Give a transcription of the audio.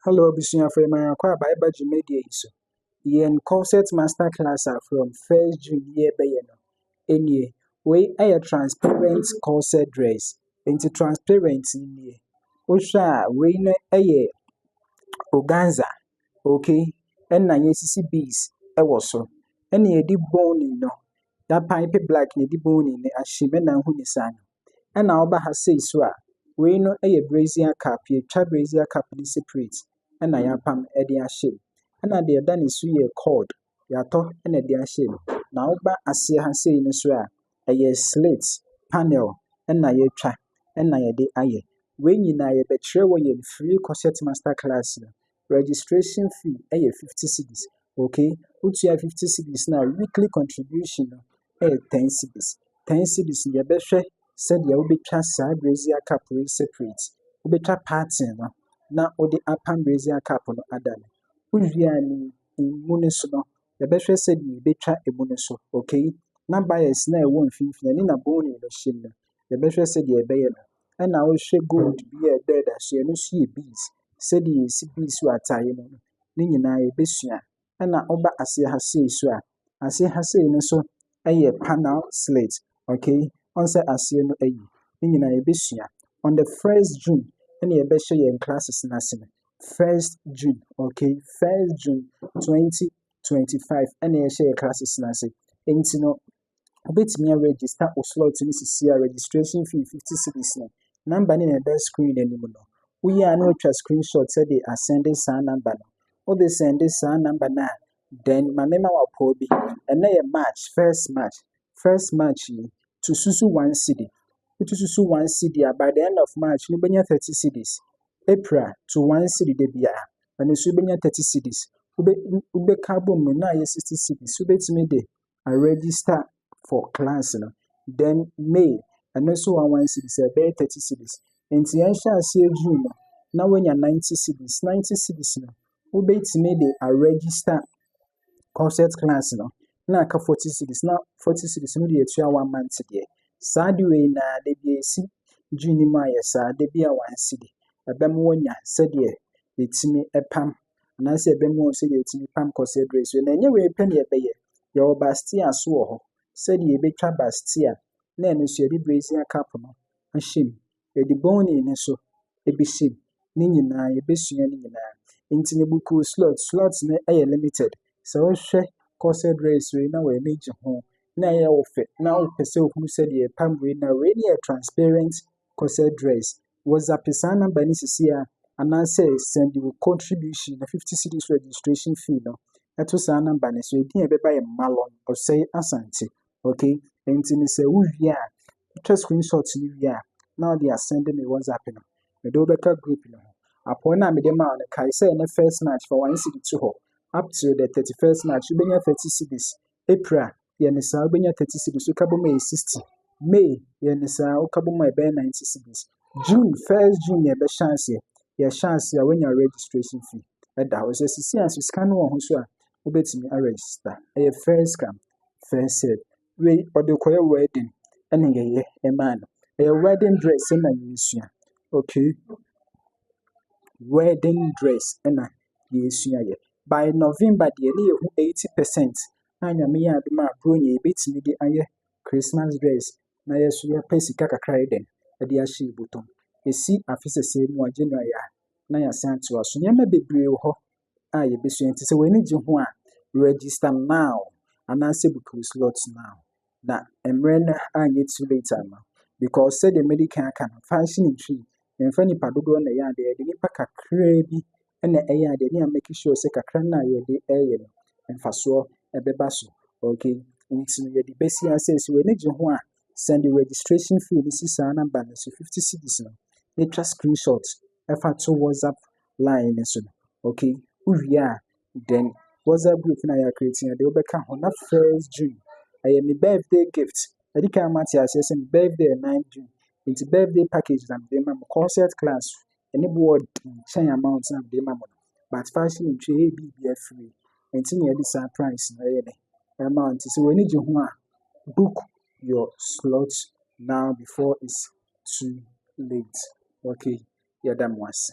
Hello abusuafo, yɛma yɛn akɔ aba ɛba dwumadie yi so. Yɛn corset master class a from first June yi ɛbɛyɛ no ɛnie. Wei ɛyɛ transparent corset dress, nti transparent no nie. Wohwɛ a wei no ɛyɛ organza, okay, ɛna yɛasisi beads ɛwɔ so. Ɛna yɛde boning no, yɛapaepe black na yɛde boning no ahyɛ mu, ɛna wohu ne saa no. Ɛna ɔba ha sei so a, wei no yɛ brazier cap, yɛtwa brazier cap no separate ɛna yɛapam ɛde ahyɛ mu. Ɛna deɛ ɛda ne so yɛ cord, yɛatɔ ɛna ɛde ahyɛ mu. Na woba aseɛ ha sei no so a, ɛyɛ slit panel ɛna yɛatwa ɛna yɛde ayɛ. Wei nyinaa yɛbɛkyerɛ wɔ yɛn free corset master class no Registration fee yɛ fifty cedis, okay, wotua fifty cedis no a, wo weekly contribution no yɛ ten cedis. Ten cedis no yɛbɛhwɛ sɛdeɛ wobɛtwa saa brazier cup wei separate. Wobɛtwa parting no na wode apam brazier cup no ada no. Wowie a no, emu no so no, yɛbɛhwɛ sɛdeɛ yɛbɛtwa emu no so, okay. Na bias no a ɛwɔ mfimfini ɛne na bone no hyia mu no, yɛbɛhwɛ sɛdeɛ ɛbɛyɛ no. ɛna ɔhyɛ gold bi a ɛbɔ da so, ɛno nso yɛ beads. Sɛdeɛ yɛsi beads wɔ ataadeɛ mu no, ne nyinaa yɛbɛsua. Ɛna woba aseɛ ha sei nso a, aseɛ ha sei no nso yɛ panel slit, okay? Woahu sɛ aseɛ no ayi. Ne nyinaa yɛbɛsua. On the first June ɛna yɛbɛhyɛ yɛn classes no ase. First June, okay? First June twenty twenty five ɛna yɛhyɛ yɛn classes no ase. Nti no, Wobɛtumi a register wo slot no seesei a, registration fee fifty cedis no, number no na ɛda screen no anim no. Woyɛ a na watwa screen shot de asɛnde saa number no. Wode sɛnde saa number no a, then ma me ma wapɔw bi. Ɛnɛ yɛ March, first March. First March yi, to susu one cedi. Wotu susu one cedi a, by the end of March no, wobɛnya thirty cedis. April, to one cedi da biara. Ɛno nso wobɛnya thirty cedis. Wobɛ wobɛka abom no na ayɛ sixty cedis. Wobɛtumi de a register for class no, then May, ɛno nso one one cedis, ɛbɛyɛ thirty cedis. Nti yɛnhyɛ aseɛ June no, na woanya ninety cedis. Ninety cedis no, wobɛtumi de aregister corset class no, na aka forty cedis, na forty cedis no de atua one month deɛ. Saa de wei na da bi a ɛsi June no mu ayɛ saa, da bi a one cedi. Ɛbɛma woanya sɛdeɛ yɛtumi pam anaasɛ ɛbɛma wɔahu sɛdeɛ wɔtumi pam kɔsɛ berɛ so. Na ɛnyɛ wei pɛ na yɛbɛyɛ, yɛwɔ Bastia nso wɔ hɔ, sɛdeɛ yɛbɛtwa Bastia na ɛno nso yɛde Brazier Cup no ahyɛ mu, yɛde Burnley no nso bɛhyɛ mu, ne nyinaa yɛbɛsua ne nyinaa. Nti no book wo slot, slot no yɛ limited, sɛ wohwɛ kɔsɛ berɛ so yi na w'ani gye ho na ɛyɛ wo fɛ na wopɛ sɛ wohunu sɛdeɛ yɛpam wei na wei no yɛ transparent kɔsɛ dress WhatsApp saa number no sisi a, anaasɛ send wo contribution na 50 cedis registration fee no ɛto saa number no so. Edin a ɛbɛba yɛ Malon Osei Asante. Okay? Nti no sɛ wowie a, wotwa screenshot no wie a, na wode asɛnde me WhatsApp no. Mede wobɛka group no ho. Apɔn no a mede maa no, kae sɛ ɛnɛ first March fa one cedi to hɔ. Up till the 31st March, wobɛnya 30 cedis. April a, yɛ no saa a, wobɛnya thirty cedis, woka bom a ɛyɛ sixty. May, yɛ no saa a, woka bom a ɛbɛyɛ ninety cedis. June, first June na yɛbɛhyɛ aseɛ. Yɛhyɛ aseɛ a, woanya registration fee ɛda hɔ. Sɛ sisi a nso sika no wɔ ho so a, wobɛtumi aregister. Ɛyɛ first come, first serve. Wei, ɔde kɔyɛ wedding ɛna yɛyɛ ɛmaa no. Ɛyɛ wedding dress na yɛsua. Okay. wedding dress na yɛresua yɛ. By November deɛ ne yɛhu eighty percent a Nyame yɛ adom a Buronya yi bɛtumi de ayɛ Christmas dress na yɛn nso yɛpɛ sika kakra ayɛ dɛn de ahyɛ yɛn bɔtɔ mu. Ɛsi afe sɛsɛɛ mu a January a na yɛasan atoa so. Nneɛma bebree wɔ hɔ a yɛbɛsua nti sɛ w'ani gye ho a, register now anaasɛ book wo slot now na mmerɛ no anyɛ too late ama because sɛdeɛ madi kan aka no function ntwi mfa nipa dodoɔ na ɛyɛ adeɛ yɛde nipa kakraa bi na ɛyɛ adeɛ ne a make sure sɛ kakra no a yɛde ɛyɛ no mfasoɔ ɛbɛba so okay nti yɛde bɛsi asɛ sɛ w'ani gye ho a send the registration fee no si saa number no so 50 cedis no na twa screenshot ɛfa to whatsapp line no so no, okay, wowie a, then WhatsApp group na yɛ create no de wobɛka ho na first June ɛyɛ me birthday gift ɛdi kan ma te aseɛ sɛ me birthday yɛ nine June nti birthday package na mede ma mo concert class ɛne bo wɔ nkyɛn amount na mede ma mo no but fashion ntwi ɛyɛ biribi afiri nti na yɛde saa price na ɛyɛ ne ɛma nti sɛ w'ani gye ho a book your slot now before it's too late okay yɛda mo ase